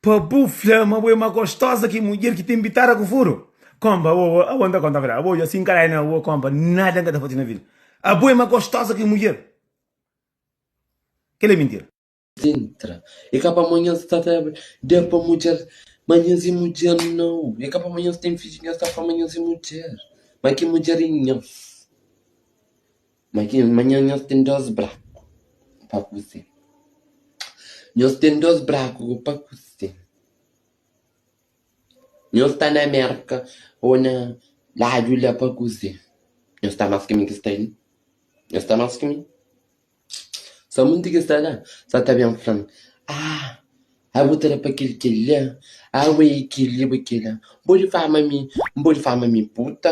Pa bu fla ma bu é ma gostosa ki mudjer ki ten bitada ku furu? Konpa, Awo, awo, awo, N ta konta bra, awo, dja si N ka dai na awo, konpa, nada N ka ta fasi na vida. Abo é ma gostosa ki mudjer? Kel é mintira. Sintra, É ka pa manha sta ta da pa mudjer, ma nhas i mudjer nau. É ka pa manha sta ten fidju, nhas ta fla ma nhas i mudjer, ma ki mudjer i nhas. Imajina, manhan nhos ten dôs braku pa kuze. Nhos ten dôs braku ku pa kuze. Nhos sta na Mérka ô na ladu la pa kuze. Nhos sta más ki mi ki sta li. Nhos sta más ki mi. Sa monti ki sta la sa ta ben fla-m, Ah, a bu ta da pa kel kel-la, a bu é kel-li, bu é kel-la. N pode fla ma mi, N pode fla ma mi puta.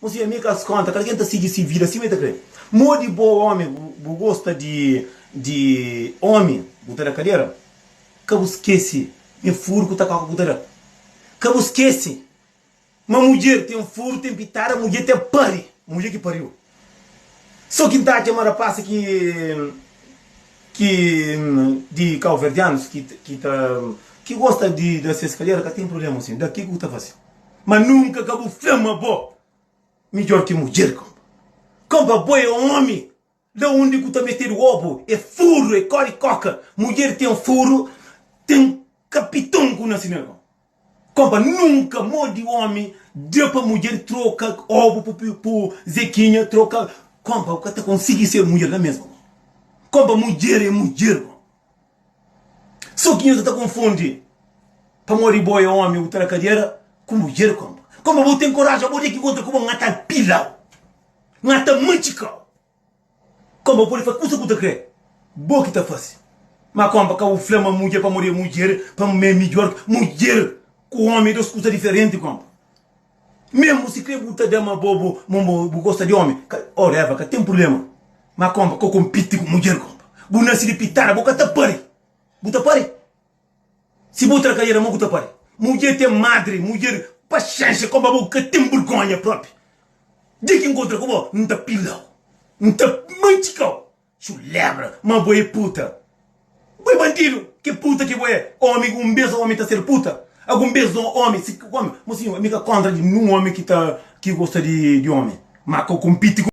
Kuzê i ami ka es konta. Kal ken ta sigi si vida sima i ta kre. Modi bo omi bu gosta di di omi bu ta da kadera ka bu skesi me furu ku ta koka ku ta da ka bu skesi ma mudjer ten furu ten pitada mudjer ten pari ma mudjer ki pariu so kin ta atxa ma rapasi ki ki di kauverdianus ki ki ta ki gosta di da ses kadera ka ten problema osi da ki ku ta fasi. Ma nunka ka bu fla ma bo midjor ki mudjer kompa. Kompa bo e omi la undi ku ta metedu obu e furu e kori koka mudjer ten furu ten kapiton ku na sina kompa. Kompa nunka modi omi da pa mudjer troka obu pu pu zekinha troka kompa bu ka ta konsigi ser mudjer la mesmu kompa. Kompa mudjer e mudjer kompa. Sô ki nhos ta konfundi, pamodi bo é ómi, bu ta na kadiera ku mudjer kónpa. Kónpa bo ten koraji, má bo dia ki inkontra ku bo, N ta pila-u, N ta matxika-u. Kónpa bu pode faze kusa ki bu ta krê, bo ki ta faze. Má kónpa ka bu fla ma mudjer pamodi é mudjer, pamodi ma é midjór. Mudjer ku ómi é dôs kuza diferenti, kónpa. Menbru si kre bu ta da ma bo bu gosta di omi oh leva ka tem purblema ma kompa ka kompiti ku mudjer kompa bu nasi di pitada bu ka ta pari bu ta pari si bu tra kadera mo ku ta pari mudjer tem madri mudjer paxenxa kompa bo ka tem burgonha propi dia ki nkontra ku bo nta pilau nta mantikau. Culebra ma bo é puta. Bo é bandidu. Ke puta ke bo é. Omi un bes omi ta ser puta. Agun bes no omi si omi. Mo sinhor mi ka kontra di ninhun omi ki ta ki gosta di omi. Ma ka konpiti ku.